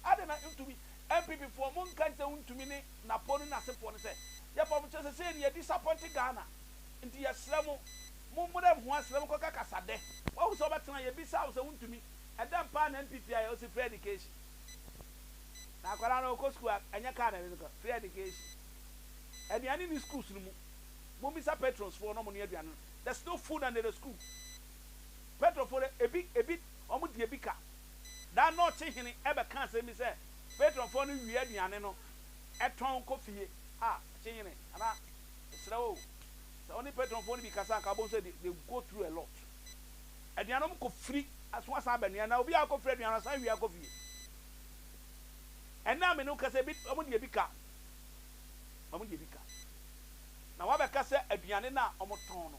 Adɛn na ntumi? NPP foɔ mo nka ntɛ wontumi ne Napon ne nasefoɔ no sɛ yɛpɛ ɔmo kyerɛ sesei no yɛ disappoint Ghana nti yɛsrɛ mo mo mmrɛ ho asrɛ mo kɔka kasa dɛ wahu sɛ wobɛtena yɛbisa wo sɛ wontumi ɛdɛn paa na NPP ayɛ ɔse free education na akwadaa no ɔkɔ school a ɛnyɛ car na ɛde no kɔ free education aduane ni schools no mu mommisa patrons foɔ na ɔmo no aduane no there's no food under the school petrol foɔ dɛ ebi ebi ɔmo di ebi ka Da no ɔte hene ɛbɛka asɛm bi sɛ patronfoɔ no wie aduane no tɔn kɔ fie a ɔte hene anaa mesrɛ wo sɛ ɔne patronfoɔ no bi kasa anka wobɛhu sɛ they they go through a lot aduane ɔmo kɔ firi aso asan aba nea na obi a ɔkɔ firi aduane no asan wie akɔ fie ɛnna a me ne wo kasa ebi ɔmo deɛ bi ka ɔmo deɛ bi ka na wabɛka sɛ aduane no a ɔmo tɔn no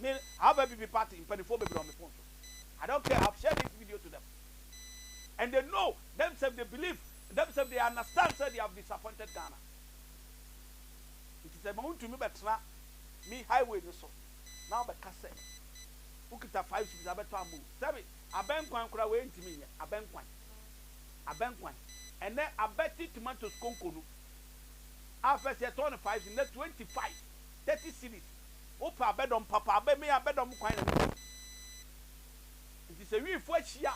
Me have app party mpanimfoɔ bebree wɔ me phone so I don't care I have shared this video to them and they know them self they believe them self they understand sɛ they have disappointed Ghana nti sɛ ma wontumi bɛtena me highway no so na wobɛka sɛ wokita five cities abɛtɔ amu sɛbi abɛnkwan koraa wei ntumi nyɛ abɛnkwan abɛnkwan ɛnɛ abɛte tomatoes konko no afɛsɛ tɔn five na twenty five Thirty cedis, wopɛ abɛdɔm papa a, bɛmee abɛdɔm kwan na mesi. Nti sɛ wifo ahyia,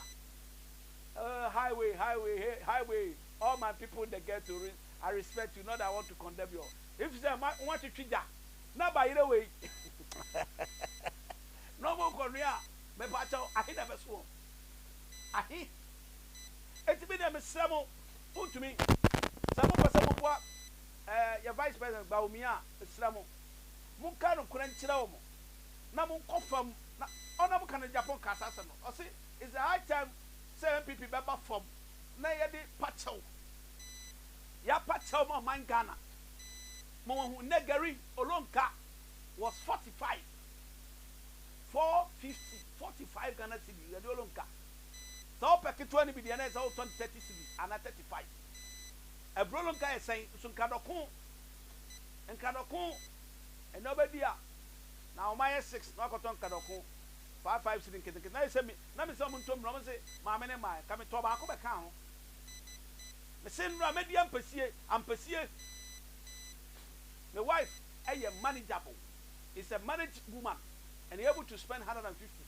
oh highway highway hey highway all my people in the ghetto re I respect you not that I want to condemn your if sɛ ma wɔatwetwe gya na bayerɛ wei na wɔn kɔnoa a mepa kyɛw ahe na ɛbɛso wɔn ahe eti mi deɛ mesrɛ mo mo ntumi sɛ mo pɛ sɛ mo boa. Eh, yɛ Vice President Bawumia, mesrɛ mo, monka nokorɛ nkyerɛ wɔn na monkɔ fam na ɔno a moka no Japan kaa saa asɛm no, ɔse it's a high time sɛ NPP bɛba fam na yɛde pa kyɛw, yɛapa kyɛw ma ɔman Ghana ma wɔahu nnɛ Gary Olonka was 45, 450, 45 Ghana cedi, Gary Olonka, sɛ wopɛ ketewa no bi deɛ na ɛsɛ wotɔn 30 cedi anaa 35. Aburo no nka yɛ sɛn nso nka dɔko nka dɔko ɛnɛ ɔbɛdi a na wɔn ayɛ six na wakɔtɔ nka dɔko five five cedi nketenkete na yɛ sɛ mi na mi sɛ wɔn ntommire wɔn se maame ne mmaa nka mi tɔ baako bɛ kaa ho mi se nnura mɛ di ampesie ampesie mi wife ɛyɛ manageable is a manage woman and he able to spend hundred and fifty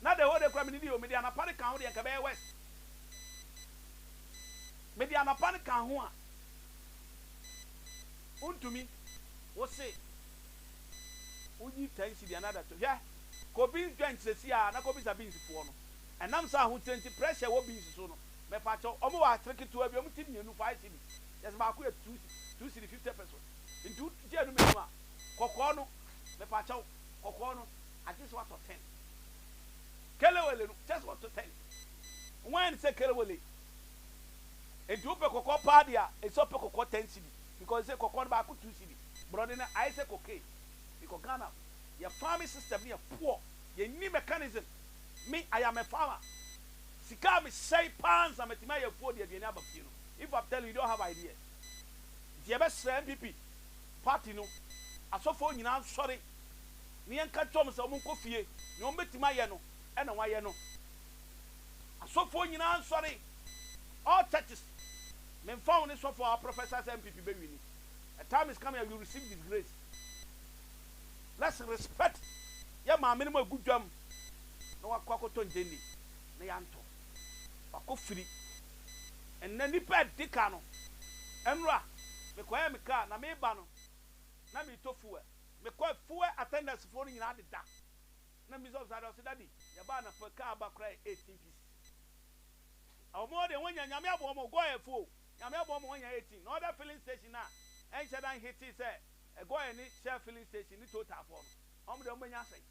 na the whole day kura mi ni di o mi de anapa de kaa ho deɛ nka bɛyɛ west. Mede anɔpa no ka ho a, wontumi. Wose wonyi ten cedi another two. Hwɛ, kɔ beans joint sesie ara na kɔbisa beans foɔ no. Ɛnam sɛ ahokyerɛ nti pressure wɔ beans so no, mepakyɛw, wɔn wɔ atere ketewa bi, wɔn ti mmienu five cedi, yes baako yɛ two cedi, two cedi fifty pesos. Nti wogye anum anum a, kɔkɔɔ no, mepakyɛw, kɔkɔɔ no. Agye sɛ watɔ tent. Kelewele no, kyerɛ sɛ watɔ tent. Wɔayɛ no sɛ kelewele. Enti wopɛ kɔkɔɔ paa deɛ a, ɛsɛ ɔpɛ kɔkɔɔ ten cedi because sɛ kɔkɔɔ no baako two cedi. Borɔde no ayɛ sɛ cocaine because Ghana yɛ farming system no yɛ poor, yɛnni mechanism. Me, I am a farmer. Sika a mesɛe paa ansa matumi ayɛ afuo de aduane aba fie no, if I'm telling you, you don't have idea. Nti yɛbɛsrɛ NPP party no, asɔfoɔ nyinaa nsɔre. ne yɛnka nkyerɛ wɔn sɛ wɔnkɔ fie, nea wɔbɛtumi ayɛ no na wɔayɛ no. Asɔfoɔ nyinaa nsɔre, all churches, memfa ho ne sɔfo a ɔaprophesy sɛ NPP bɛwini, a time is coming a you receive disgrace. Let's respect yɛn maame nom a ɛgu dwam na wakɔ akɔtɔ ngyenni na yɛantɔ, wakɔ firi. Ɛnnɛ nnipa a ɛdi kan no, nnora mekɔyɛɛ me car na mereba no na meretɔ fuel. Me kɔ fuel attendance foɔ no nyinaa deda na me sɔfo saa deɛ ɔse daddy yɛ ba anapa car aba koraa yɛ 18 pieces a ɔmo deɛ wɔnya nyame aboa ɔmo gɔyɛ fo o nyame aboa ɔmo wɔnya 18 na ɔda filling station no a ɛnhyɛ da nhitee sɛ ɛgɔyɛ ne shell filling station ne total foɔ no ɔmo deɛ ɔmo bɛnya asɛn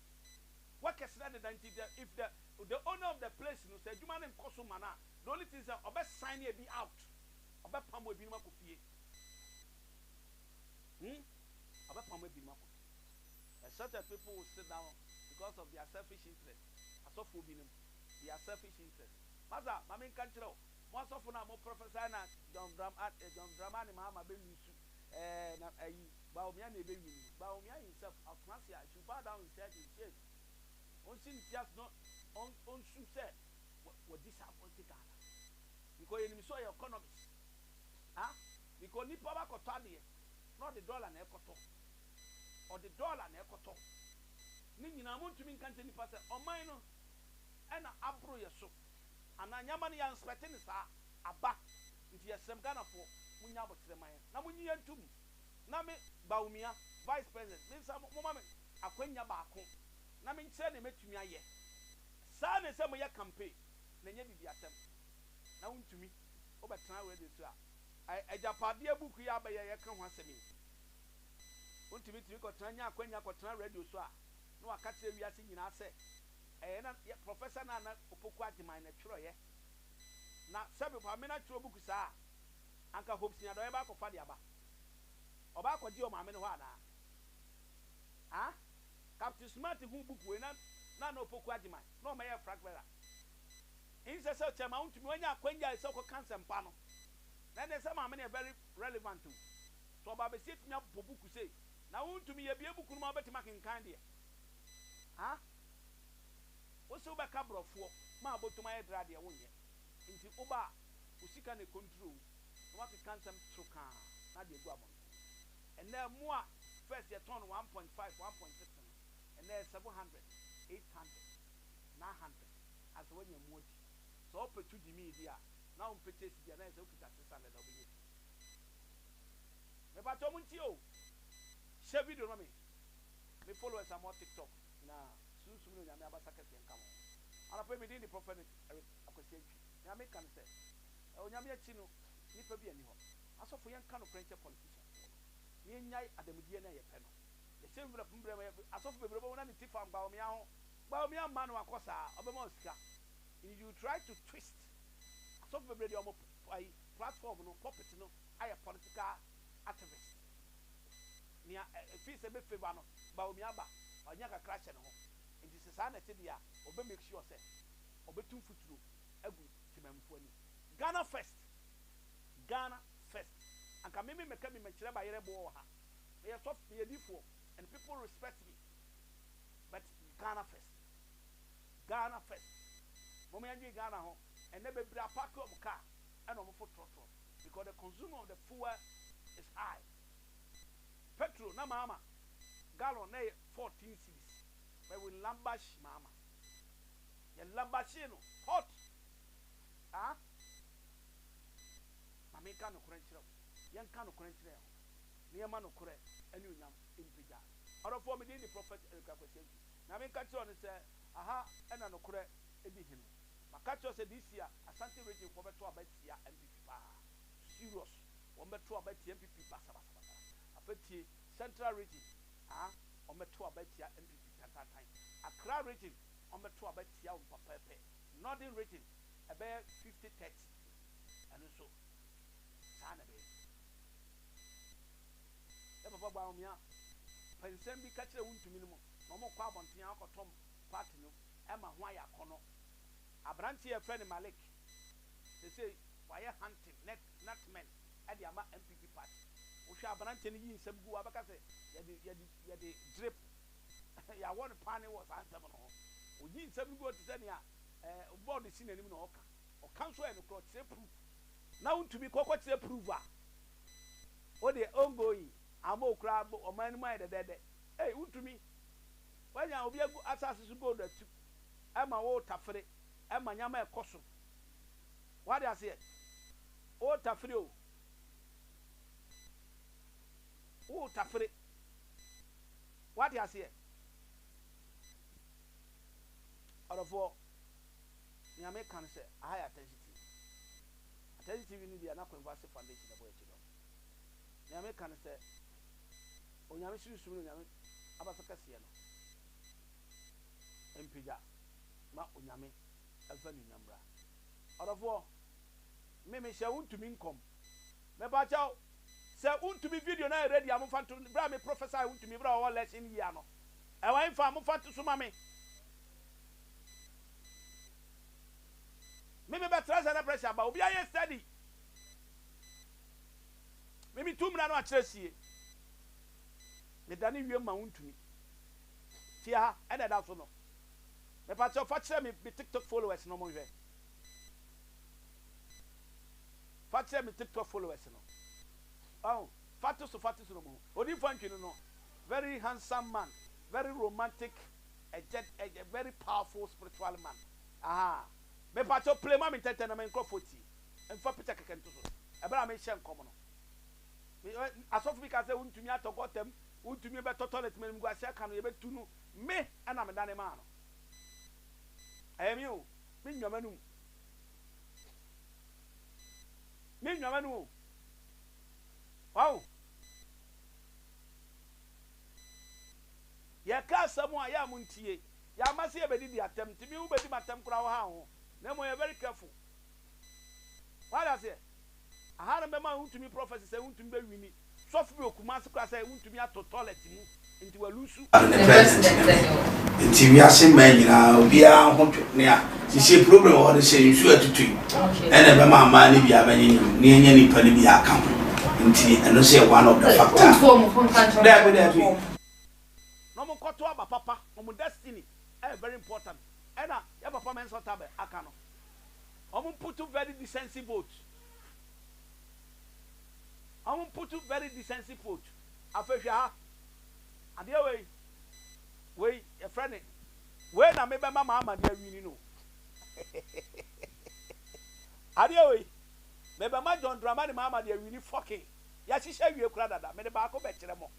workers na deda nti the if the the owner of the place no sɛ adwuma no nkɔ so ma no a the only thing sɛ ɔbɛ sign ebi out ɔbɛ pamo ebinom akɔ fie. Hu, ɔbɛpam ebinom akɔ fie. A certain people will sit down because of their selfish interest, asɔfoɔ binom, their selfish interest. Masa, ma menka nkyerɛ wo, mo asɔfo no a mo prophesy na John Dram, ah, eh, John Dramani Mahama bɛ lose, eh, na ayi, Bawumia na ebe win no. Bawumia himself, ɔtena ase a, he should bow down his head in shame. Ɔnsi ne ti ase na ɔn, ɔnsu sɛ, wa, wa disappoint Ghana. Because yɛnim sɛ ɔyɛ economist. Ah? Because nipa ba kɔtɔ adeɛ na ɔde dollar na ɛkɔtɔ ɔde dollar na ɛkɔtɔ ne nyinaa mo ntumi nka nkyerɛ nipa sɛ ɔman no ɛna aboro yɛ so anaa nyɛma no yɛ anspɛte no saa aba nti yɛsrɛm Ghanafoɔ mo nya aboterɛ ma yɛn na mo nyi yɛn ntom na me Bawumia vice president me nsa mo ma me akwanya baako na me nkyerɛ deɛ mɛtumi ayɛ saa na ɛsɛ mo yɛ campaign na ɛnyɛ bibi atɛm na wo ntumi wo bɛtena radio so a. Agyapadeɛ buku yi a abɛyɛ a yɛka ho asɛm yi, wontumi tumi kɔtena nya akwanya kɔtena radio so a na waka kyerɛ wiase nyinaa sɛ ɛyɛ na yɛ Professor Nana Opoku Agyemang na ɛtwerɛeɛ. Na sɛbe Ɔpapa Mena twerɛ buku saa a, anka Hope Seniadɔyɛ bɛa kɔfa de aba. Ɔbɛa kɔgye wɔ maame no hɔ anaa? Haa? Captain Smart huu buku wei na Nana Opoku Agyemang na ɔmɛyɛɛ frag bearer. Nsɛ sɛ sɛ ma wontumi wanya akwanya sɛ wokɔka nsɛmpa no. Na ɛnɛ sɛ maame no yɛ very relevant o. Sɛ ɔba bɛsi atumi abɔ buku sei na wontumi yɛbie buku no ma wobɛtumi akenkan deɛ a wose wobɛka brɔfoɔ ma abotom ayɛ dra deɛ wonyɛ. Nti woba a wo sika na ɛcontrol wo na woakeka nsɛm toro kaa na ade agu abɔnten. Ɛnɛ ɛmo a first yɛtɔn no one point five, one point six no ɛnɛ ɛyɛ seven hundred, eight hundred. na handles a sɛ wanya mu adi. Sɛ ɔpɛ tu demii bi a na ɔmpɛ chase bi a na ayɛ sɛ ɔkita 600 a ɔbɛnya bi. Mepakyɛ mo ntie o! Hyɛ video no ma me, me followers a mowɔ TikTok nyinaa, Sunsum ne Onyame abasa kɛseɛ nka mo. Anɔpa yi me din de Prophenet Eric Akwasi Antwi. Nea meka ne sɛ, Onyame akyi no nipa bi a nni hɔ. Asɔfo yɛnka nokorɛ nkyɛ politician foɔ no, na yɛnyae adamudeɛ ne ayɛ pɛ no. Mese mbrɛ po mbrɛ mɛ asɔfo bebree ɔbɛwo na ne ti fa mbaomia ho mbaomia mma no akɔ saa ɔbɛma wo sika nti you try to twist asɔfo bebree deɛ ɔmo ayi platform no pulpit no ayɛ political activist nea ɛfii sɛ bɛ favour no mbaomia ba ɔnya kakra hyɛ ne ho nti sɛ saa na ɛte deɛ a ɔbɛ make sure sɛ ɔbɛtu mfuturo agu temanmufo ani Ghana first Ghana first anka meme mɛka bi mɛkyerɛ bayerɛ boɔ wɔ ha. Meyɛ sɔfo, meyɛ difoɔ and people respect me but Ghana first, Ghana first. Mom yɛ ndwen Ghana ho, ɛnɛ bebree apake wɔn car ɛna wɔn fo trɔtrɔ because the consume of the fuel is high. Petrol na maama gallon na ɛyɛ 14 cedis but we labash maama, yɛ labashee no hot ah. Ma menka nokorɛ nkyerɛ wo, yɛnka nokorɛ nkyerɛ yɛn ho. na yɛma nokorɛ anuonyam mpagya. Ɔdɔfoɔ, me din de Prɔfɛt Eric Akwasi Antwi. Nyame nka nkyerɛ wo ne sɛ, aha na nokorɛ di hene. Maka akyerɛ wo sɛ this year Asante Region foɔ bɛto aba atia NPP paa. Serious. Wɔn bɛto aba atia NPP basabasabasa. Afei tie, Central Region, ah, wɔn bɛto aba atia NPP tantantan. Accra Region, wɔn bɛto aba atia wɔn pɛpɛɛpɛ. Northern Region, ɛbɛyɛ fifty thirty. Ɛno nso, saa na ɛbɛyɛ. Yɛ papa Bawumia pɛ nsɛm bi ka kyerɛ wo ntumi no mu na wɔkɔ abɔnten akɔtɔn part no ma ho ayɛ akɔnnɔ. Aberanteɛ a yɛfrɛ no Malik seesei wayɛ hunting net nutmen de ama NPP party. Wohwɛ aberanteɛ no yi nsɛm gu a wobɛka sɛ yɛde yɛde yɛde gyirip yɛawɔ no paane wɔ saa nsɛm no ho. Oyi nsɛm no gu hɔ te sɛ nea board si n'anim na ɔreka. Ɔka nso ɛyɛ nokorɛ ɔkyerɛ proof na wontumi kɔ kɔ kyerɛ proof a wodeɛ ongoing ama okura ɔman no mu ayɛ dɛdɛɛdɛ ei wontumi wanya obi agu asase so gold atu ɛma wo tafere ɛma nyama ɛkɔso wade aseɛ wo tafere o wo tafere wade aseɛ ɔdɔfoɔ. Nea meka ne sɛ, aha yɛ Atɛnhye TV. Atɛnhye TV no deɛ na Kwanku Ase Foundation na ɛbɔ yɛn kyidɔm. Nea meka ne sɛ, Onyame sunsum ne Onyame abasa kɛseɛ no mpagya ma Onyame mfa anuonyam mmra. Ɔdɔfoɔ, me mehyɛ wo ntumi nkɔm. Mepakyɛw, sɛ wo ntumi video no ayɛ ready a momfa nto, berɛ a me prophesy wo ntumi berɛ a ɔwɔ election year no, ɛwɔ he fa? Momfa nto so ma me. Me me bɛ trɛsɛ na pressure aba obi ayɛ study Me me tu mmra no akyerɛ sie Me da ne wiem ma wo ntumi Fie ha ɛna ɛda so no Me pa kyɛw fa kyerɛ me me tiktok followers no ɔmo nhwɛ Fa kyerɛ me tiktok followers no ɔho Fa to so fa to so no ɔmo ho Odinfo Antwi no no very handsome man very romantic Ɛkyɛ a very powerful spiritual man ahaa mepakyɛw play ma me ntɛntɛn na me nkorɔfoɔ ntie mfa picture kɛkɛ nto so ɛberɛ a mehyɛ nkɔm no me ɛ asɔfo bi ka sɛ wontumi atɔ gɔta mu wontumi bɛtɔ toilet mu animguaseɛ aka no yɛbɛtu no me ɛna me dane maa no ɛyɛ me o me nnwa m'anum me nnwa m'anum o wow Yɛka asɛm a yɛ a montie. Yɛama sɛ yɛbɛdidi atɛm nti me wobɛdi m'atɛm koraa wo ha ho na mmom yɛ very careful. Wate aseɛ? Aha no bɛma wontumi prophecy sɛ wontumi bɛ wini sɔfo bi wɔ Kumasi koraa sɛ wontumi ato toilet mu nti wa lose. Ane president ne ho nti wiase mmaa nyinaa obiara ho dwo nea. Seesei program a wɔde sɛ nsu a ɛtotɔ yi na ɛbɛma mmaa no bi abɛnyenyem na yɛanya nnipa no bi aka ho nti ɛno nso yɛ one of the factor. Dabi dabi. Na ɔmo nkɔto aba papa ɔmo destiny ɛyɛ very important ɛna yɛ papa Mensah Otabil aka no ɔmo mputu very decency vote ɔmo mputu very decency vote afei hwɛ ha adeɛ wei wei yɛfrɛ ne Wei na me bɛma maa mane awini no adeɛ wei me bɛma John Dramani maa mane awini fucking yɛahyehyɛ awie kora dada mede baako bɛkyerɛ mo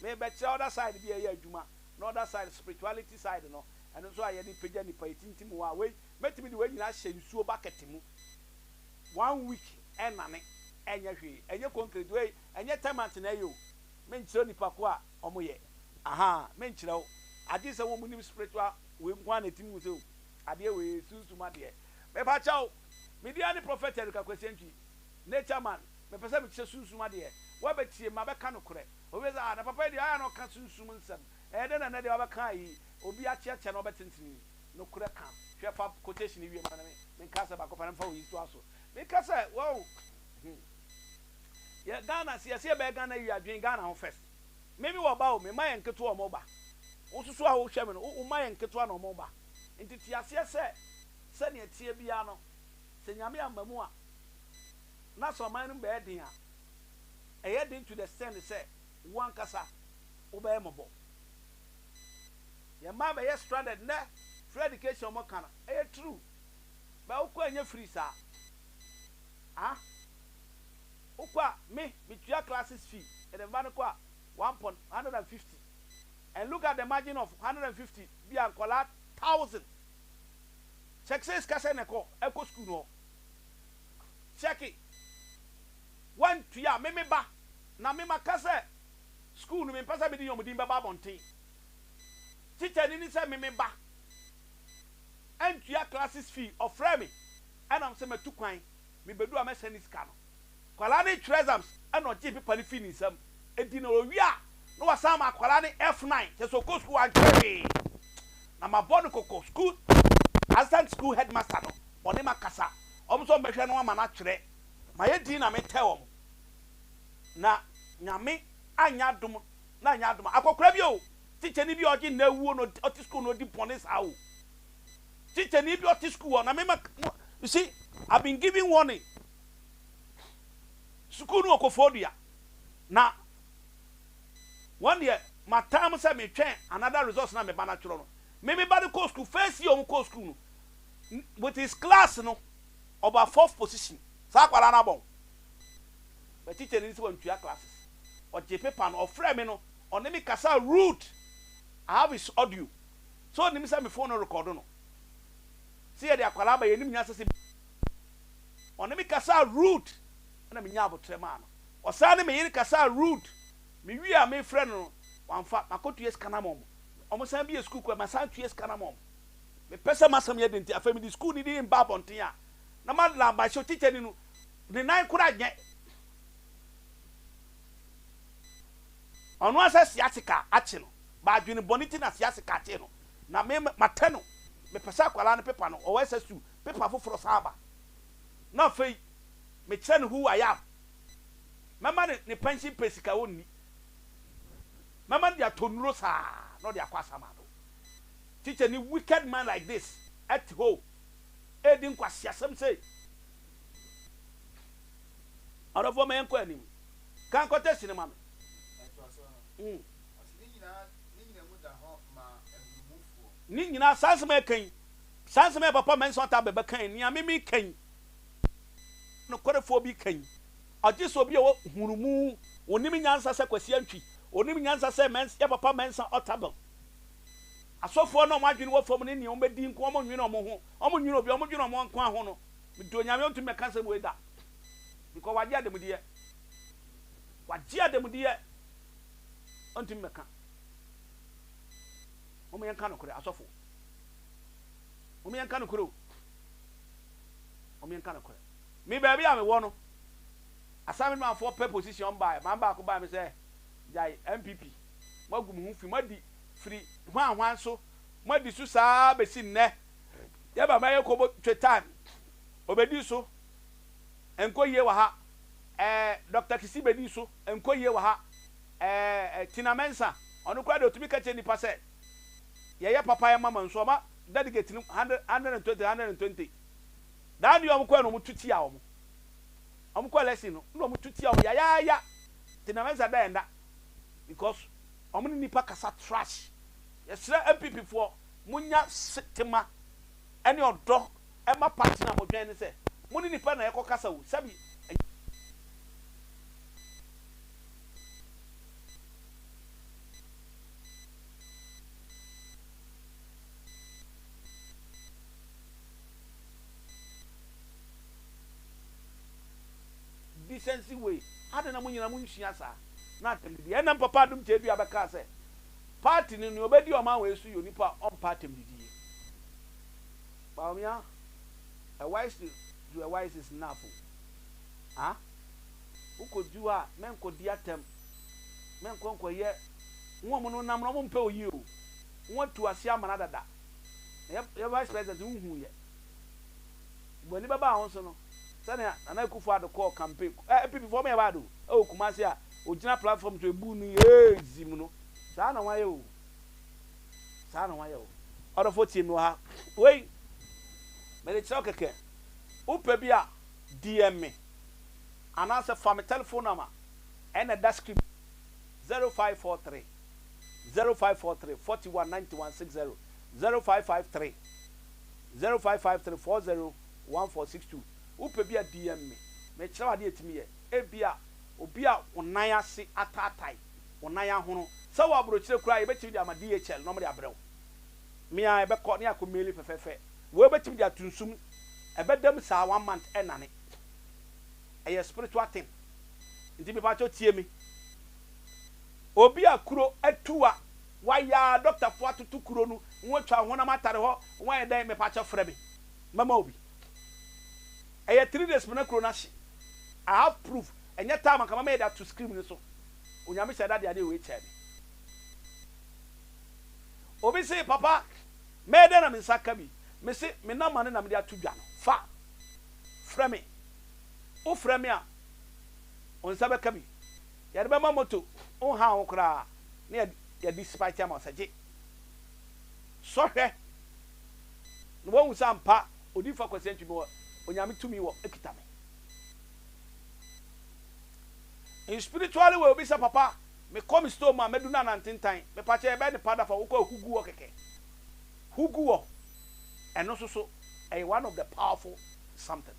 me bɛkyerɛ other side bi a ɛyɛ adwuma na other side spirituality side no ɛno nso a yɛde pagya nipa yɛtintim wɔ a wei mɛtumi de wei nyina ahyɛ nsuo bucket mu one week ɛnane ɛnyɛ hwee ɛnyɛ concrete wei ɛnyɛ termite na ɛyɛ o menkyerɛ nipa ko a Ɔmo yɛ. Ahaa me nkyerɛ wo adeɛ sɛ wɔmo nim spiritual wei nkoaa na ɛtimi hu sɛ oh adeɛ wei yɛ sunsum adeɛ mepa kyɛw me dia ne prophet Erica Kwesi Antwi nature man mepɛ sɛ mekyɛ sunsum adeɛ wabɛ tie ma bɛ ka nokorɛ obi bɛ sɛ ah na papa yi deɛ ayɛ a na ɔka sunsum nsɛm ɛyɛ dɛn na ɛnɛ deɛ wabɛ ka ayi obi akyɛ kyɛ na ɔbɛ tentene nokorɛ ka hwɛ fa quotation wie ma me me nka asɛ baako pɛ na mefa wo yi to aso meka sɛ wow hmm yɛ Ghana se yɛse yɛbɛyɛ Ghana wie a dwen Ghana ho first me me wɔ ba o me mma yɛ nketewa ɔmo ba wo nso so a wo hwɛ me no wo mma yɛ nketewa na ɔmo ba nti te aseɛ sɛ sɛnea ɛteɛ biara no sɛ Nyame amma mu a na sɛ ɔman no mu bɛyɛ den a ɛyɛ den to the extend sɛ wo ankasa wo bɛyɛ mɔbɔ yɛ mma bɛyɛ stranded nɛ free education ɔmo ka no ɛyɛ true bɛ wokɔ ɛnyɛ free saa ah Wokɔ a me metua classes fee and the mma no kɔ a one pon hundred and fifty and look at the margin of hundred and fifty bi a nkwadaa thousand check sɛ sika sɛn na ɛkɔ ɛkɔ sukuu no hɔ check wantua me me ba na me maka sɛ sukuu no mempɛ sɛ mede wɔn din bɛba abɔnten teacher ni ni sɛ me me ba antua classes fee ɔfrɛ me ɛna sɛ matu kwan Mibedu a mɛsɛn ne sika no. Akwadaa no retwerɛ exams ɛna ɔgyee pepa no fii ne nsam. Enti na ɔrewie a na wasan ama akwadaa no F9 kyerɛ sɛ ɔkɔ sukuu wantwerɛ hwee. Na mabɔ no kɔkɔ, sukuu Assistant School Headmaster no ɔne me akasa, wɔn nso wɔbɛhwɛ no ama no atwerɛ. Mayɛ dinn na metɛɛ wɔn. Na Nyame anyɛ adom na anyɛ adom a akɔkora bi o, tikyani bi a ɔgye nnɛ awuo na ɔte sukuu na ɔdi bɔne saa o. Titenani bi ɔte sukuu hɔ na me ma mo you see I've been given warning. Sukuu no wɔ Kofoɔdua na wɔn deɛ ma time sɛ me twɛn another resource na me ba no atwerɛ no. Me me ba no kɔɔ sukuu first year wɔn kɔɔ sukuu no with his class no ɔba fourth position saa akwadaa no abɔn but titenani sɛ wɔntua classes ɔgye paper no ɔfrɛ me no ɔne me kasa rude I have his audio. Sɛ ɔnim sɛ me phone no rekɔdo no. Sɛ yɛde akwadaa ba yɛnim nyansa sɛ Ɔne me kasaa rude ɛna me nyaa abotrɛ maa no. Ɔsan ne me yere kasaa rude. Me wie a me frɛ no no wamfa. Makɔ tua sika no ama wɔn. Wɔn san bie sukuu kora masan atua sika no ama wɔn. Me pɛ sɛ masɛm yɛ den nti afei me de sukuu no din ba abɔnten a na ma la ba hyɛ teacher ni no ne nan kora nyɛ. Ɔno asan si ase ka akye no. M'adwene bɔne nti na Siase ka kyee no na me matɛ no. Mepɛ sɛ akwadaa no pepa no ɔwɔ ɛsɛ su pepa foforɔ san ba na afei mekyerɛ no who I am. Mɛma no ne pension pɛ sika ɔnni. Mɛma no de atɔ nnuro saa na ɔde akɔ asamado. Tikyani wicked man like this ɛte hɔ ɛredi nkwaseasɛm sei. Ɔdɔfoɔ ma yɛnkɔ anim. Ka nkɔtɛsi no ma me. Ne nyinaa, saa nsɛm a yɛka yi, saa nsɛm a yɛn papa Mensa Otabil bɛka yi, nea me meka yi, nokwarefoɔ bi ka yi, ɔgye sɛ obi a ɔwɔ nhunumu, ɔnim nyansa sɛ Kwasi Antwi, ɔnim nyansa sɛ yɛn papa Mensa Otabil. Asɔfoɔ no a wɔn adwene wɔ fam ne nea wɔbɛdi nko, wɔn nnwene wɔn ho, wɔn nnwene obi, wɔn dwene wɔn nkoa ho no, mede Onyame ɔntumi mmɛka nsɛm wei da, because wɔagye ademudeɛ, wɔagye ademudeɛ. ɔntumi mmɛka. Mom yɛnka nokorɛ asɔfoɔ. Mom yɛnka nokorɛ o. Mom yɛnka nokorɛ. Me baabi a mewɔ no, assignment man foɔ pɛ position baeɛ. Man baako baeɛ me sɛ, gyae NPP. Moagu mo ho fi. Moadi firi hwan hwan so. Moadi so saa bɛsi nnɛ. Yɛba mɛyɛ kɔbɔ twe time. Ɔbɛdi so. Ɛnkɔ yie wɔ ha. eh, Doctor Kisi bɛdi so nkɔ yie wɔ ha eh, eh, Tina Mensah, ɔno koraa deɛ ɔtumi ka kyerɛ nnipa sɛ yɛyɛ papa yɛ mama nso ɔma delegate no hundred, hundred and twenty, hundred and twenty. Daa deɛ wɔn kɔɛ no wɔn tu tia wɔn, wɔn kɔ election no na wɔn tu tia wɔn yayaaya, Tina Mensah da yɛn da because wɔn ne nnipa kasa trash. Yɛsrɛ NPP foɔ mo nya se tema. ne ɔdɔ ma partner a modwɛn ne sɛ mo ne nipa no na ɛkɔkasa o, sɛbi ɛnyɛ. Decency wei, adɛn na mo nyinaa mo nsua saa? Na atɛm didi, ɛnam Papa Adom Tadua bɛkaa sɛ Party no nea ɔbɛdi ɔman wei so yɛ onipa a ɔmpɛ atɛmdidie. Bawumia, a wise to the wise is enough o. Ah? Wokɔdi hɔ a, mɛnkɔdi atɛm. Mɛnkɔ nkɔyɛ wɔn no nam no wɔn mpɛ oyie o. Wɔn atu ase amena dada. Na yɛ yɛ vice president wohuu yɛ. Bɔ ani bɛba wo so no sɛnea Nana Akufo Addo kɔɔ campaign. Eh, APP foɔ mo yɛ bad o. Ɛwɔ Kumasi a ogyina platform to ebu no ee zim no saa na wayɛ o saa na wayɛ o ɔdɔfo tie mi wɔ ha wei mɛ de kyerɛw kɛkɛ wopɛ bi a DM me anaasɛ fa me telephone number ɛna ɛda script 0543 0543 41 91 60 0553 0553 40 1462 wopɛ bi a DM me mɛ kyerɛw adeɛ ɛtumi yɛ ebi a Obi a wo nan ase ataatae, wo nan ahono. Sɛ wowɔ aburokyire koraa a, yɛbɛtumi de ama DHL na wɔde abrɛ wo. Me ara, yɛbɛkɔ na yɛakɔ maili fɛfɛɛfɛ. Wei bɛtumi de ato nsu mu. Ɛbɛda mu saa one month ɛnnane. Ɛyɛ spiritual thing. Nti me pakyɛ tie me. Obi a kuro atu a, wayɛ a, doctor foɔ atoto kuro no, wɔatwa wo honam atare hɔ, wɔayɛ dɛn, me pakyɛ frɛ me. Mɛma wo bi. Ɛyɛ three days mena kuro no ahye I have proof ɛnyɛ time anka mama yɛ de ato screem no so onyame hyɛ da de adeɛ wei kyɛɛ me obi se papa mɛyɛ dɛn na me nsa aka bi me se me number no na mede ato dwa no fa frɛ me wo frɛ me a wo nsa bɛka bi yɛde bɛma moto wo nhaa ho koraa ne yɛ yɛ de spite ama wo sɛ gye sɔhwɛ na wahu sɛ ampa Odiyifo Akwasi Antwi mewɔ Onyame tumi wɔ ekita me in spiritually way obi sɛ papa me kɔ me store mu a mɛdu no anantentan mepakyɛ yɛbɛyɛ no pad afa wokɔ a hu gu hɔ kɛkɛ hu gu hɔ ɛno nso so ɛyɛ one of the powerful something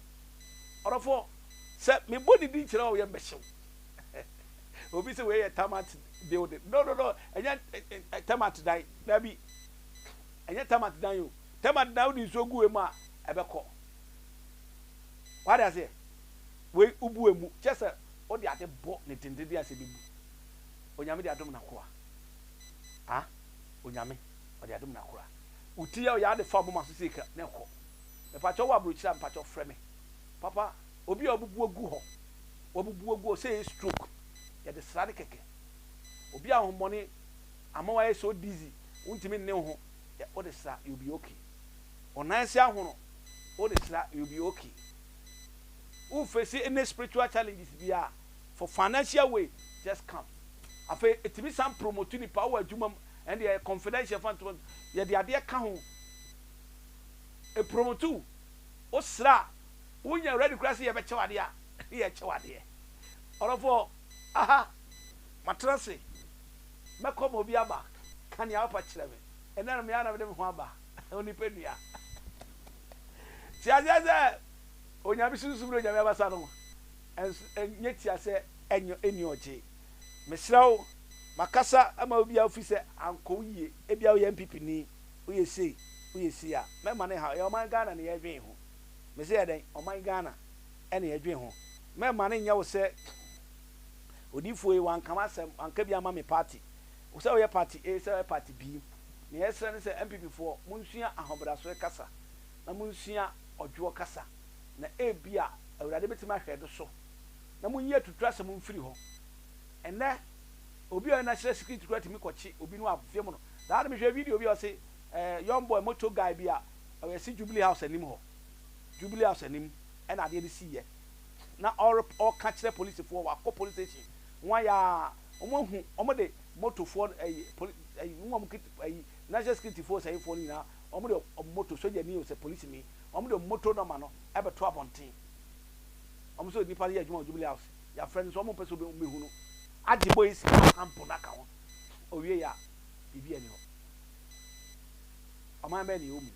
ɔdɔfoɔ sɛ mebɔ ne din kyerɛ wo yɛ mbɛhyew obi sɛ wei yɛ termite building no no no ɛnyɛ termite dan daabi ɛnyɛ termite dan o Tɛm a na wode nsuo gu emu a ɛbɛkɔ. Wate aseɛ? Wei wobu emu kyɛ sɛ wode ade bɔ ne dendenden asɛ ɛbɛbu. Onyame de adom n'akoa. A Onyame ɔde adom n'akoa. Wo ti a ɔyɛ ade fa moma so sei ka na ɛkɔ. Mepakyɛ wowɔ aburokyire a mepakyɛ frɛ me. Papa obi a wabubu agu hɔ wabubu agu hɔ sɛ ɛyɛ stroke yɛde sra no kɛkɛ. Obi a ahohommɔne ama wayɛ so dizzy wontumi nne wo ho. Yeah, wo de sra, you'll be okay. Wo nan se ahono, wo de sra, you'll be okay. Wo face any spiritual challenges bia, for financial way, just come. Afei, etimi san promote nipa wɔ adwuma mu, ɛnde ɛyɛ confidential fa ntoma, yɛde adeɛ ka ho. Epromote wo, wo sra, wonya ready kura se yɛbɛkyɛ wo adeɛ a, yɛkyɛ wo adeɛ. Ɔdɔfoɔ, aha, matena se. Mɛkɔ ma obi aba ka nea wopɛ kyerɛ me. Ɛnnɛ no, me ara na mede me ho aba onipadua. Te aseɛ sɛ Onyame sunsum ne Onyame abasa no nso nyɛ tia sɛ ɛnyɛ ɛnni ɔgye. Mesrɛ wo, makasa ama wo biara firi sɛ ankɔ wo yie. Ebia woyɛ NPP ni, woyɛ sei, woyɛ sei a, mɛmma no nhaw. Ɛyɛ ɔman Ghana na yɛredwen ho. Mese yɛ dɛn? Ɔman Ghana na yɛredwen ho. Mɛmma no nyɛ wo sɛ. Odiyifoɔ yi wanka m'asɛm, wanka bi amma me party. Sɛ woyɛ party A, sɛ woyɛ party B, nea yɛsrɛ ne sɛ NPP foɔ monsua ahobrasoɛ kasa na monsua ɔdwoɔ kasa na ebia Awurade bɛtumi ahwɛ do so na monyi atuturasɛm mfiri hɔ. Ɛnnɛ obi a ɔyɛ national security koraa tumi kɔkye obi no avem no. Daa no mehwɛ video bi a ɔse eh, young boy motor guy bi a ɔyɛ se Jubilee House anim hɔ, Jubilee House anim ɛna adeɛ no siiɛ. na ɔreka kyerɛ polisifoɔ wakɔ police station wɔayɛ a wɔn ahu wɔn de motofoɔ no ɛyi poli ɛyi wɔn wɔn kit ɛyi national security foɔ sɛyifoɔ no nyinaa wɔn de wɔn moto sogyani o sɛ polisini wɔn de wɔn moto nɔma no ɛbɛto abɔnten wɔn nso nipa no yɛ adwuma wɔ jubilee house yɛafrɛ no nso wɔn mpɛ sɛ wɔn bɛhu no agye bɔ esi kampo no aka ho owie yɛ a biribi ani hɔ ɔman bɛyɛ ne yɛ omu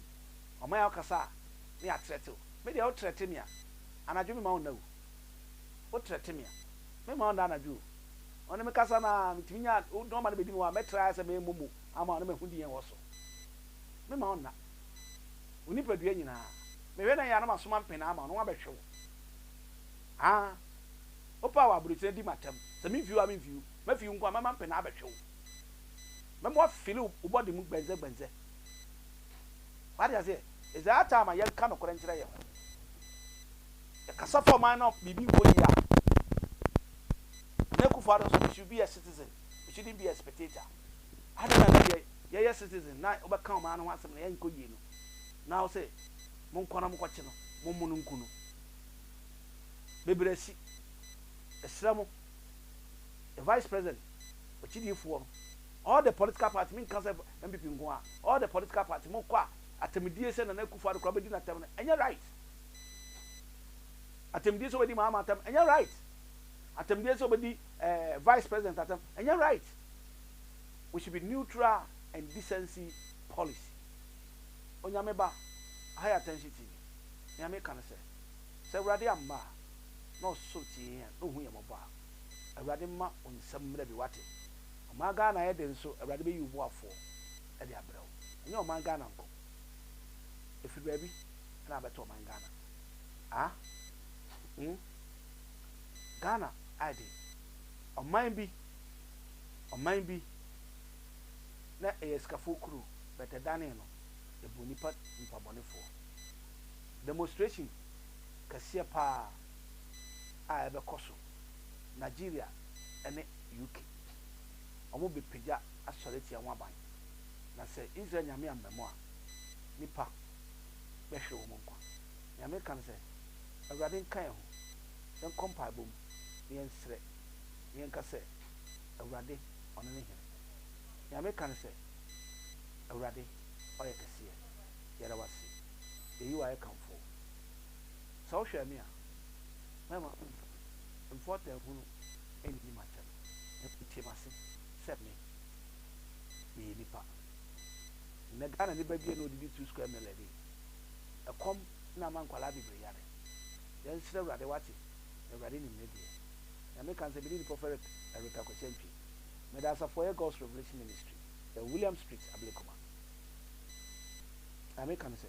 ɔman yɛ ɔkasa a ne yɛ atrɛtew me deɛ ɔtrɛte me a Anadwo mema wo nna o, wo trɛ te me a, mema wo nna anadwo o, ɔne me kasa na metumi nya wo nɔma no bɛdi me hɔ a, mɛtra ayɛ sɛ mɛmmɔ mu ama wo na mahu di yɛn wɔ so. Mema wo nna, wo nipadua nyinaa, mehwɛ na ɛyɛ a na masoma mpenaa ama wo na wɔabɛhwe wo. Haa, wopɛ a wɔ aburokyire di m'atam, sɛ memfi hɔ a memfi wo, mɛfi wo nko a mɛma mpenaa abɛhwe wo, mɛma woafili wo body mu gbɛndzɛgbɛndzɛ. Wate aseɛ? It's our time a yɛnka nokorɛ nkyerɛ yɛn ho. Yɛkasa fa ɔman na biribi nkɔ yie a, na Akufo-Addo nso, he should be a citizen, he shouldn't be a spectator. Adɛn na na yɛ yɛyɛ citizen na wobɛka ɔman no ho asɛm na yɛnkɔ yie no, na wo sɛ monkɔ na mokɔkye no, mommo no nku no. Bebree asi. Ɛsrɛ mo. the vice president ɔkyidifoɔ no all the political party me nka sɛ NPP nko a all the political party mo kɔ a atɛmdie sɛ Nana Akufo Addo kora bɛdi na tɛm no ɛnyɛ right atɛmdie sɛ ɔbɛdi Mahama atɛm ɛnyɛ right atɛmdie sɛ ɔbɛdi eh, vice president atɛm ɛnyɛ right we should be neutral and decency policy onyame ba aha yɛ atɛnhye tv nea meka no sɛ sɛ awurade amma a na ɔsosɔ tie yɛn a, na ohu yɛn mmɔbɔ a. Awurade mma wo nsam mmra bi, wate? Ɔman Ghana yɛ den nso, Awurade bɛyi wo boafoɔ de abrɛ wo. Ɛnyɛ ɔman Ghana nko. Ɛfiri baabi na abɛto ɔman Ghana. Ah? Hmm? Ghana ayɛ den. Ɔman bi, ɔman bi na ɛyɛ asikafoɔ kuro, but ɛdanee no, ɛbuu nnipa, nnipa bɔnefoɔ. Demonstration. kɛseɛ pa ara a ɛbɛkɔ so, Nigeria ne UK, wɔbɛpagya asɔre atia ho aban, na sɛ Israel Nyame ammamu a, nnipa bɛhwere wɔn nkwa. Nea meka ne sɛ, Awurade nka yɛn ho, yɛnkɔ mpaebɔ mu na yɛnsrɛ, na yɛnka sɛ, Awurade, Ɔno ne Hene. Nea meka ne sɛ, Awurade, Ɔyɛ kɛseɛ. Yɛda Wo ase. Yɛyi Wo ayɛ kamfoo. Sɛ wohwɛ me a, mɛma wo mfɔtɛ hunu anni m'atɛm, na woatie m'ase sɛ me, meyɛ nipa. Nnɛ Ghana ne babea na ɔdidi two square mile ani. Ɛkɔm na ama nkwadaa bebree yare. Yɛnsrɛ Awurade, woate, na Awurade nim ne deɛ. Nyame ka sɛ mene nipa ɔfɛ Rev. Eric Akwasi Antwi. Meda asafo a ɛyɛ God's Revelation Ministry, ɛwɔ William Street, Ablekuma. Nyame ka me sɛ.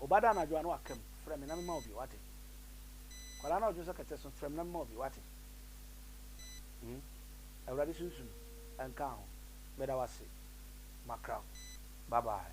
Ɔba da anadwo a na waka mu, frɛ me na mema wo bi, wate. Kwadaa na ɔdwonsɔ kɛtɛ so, frɛ me na mema wo bi, wate. Hmm? Awurade sunsum nka ho, meda wase, makra wo, bye bye.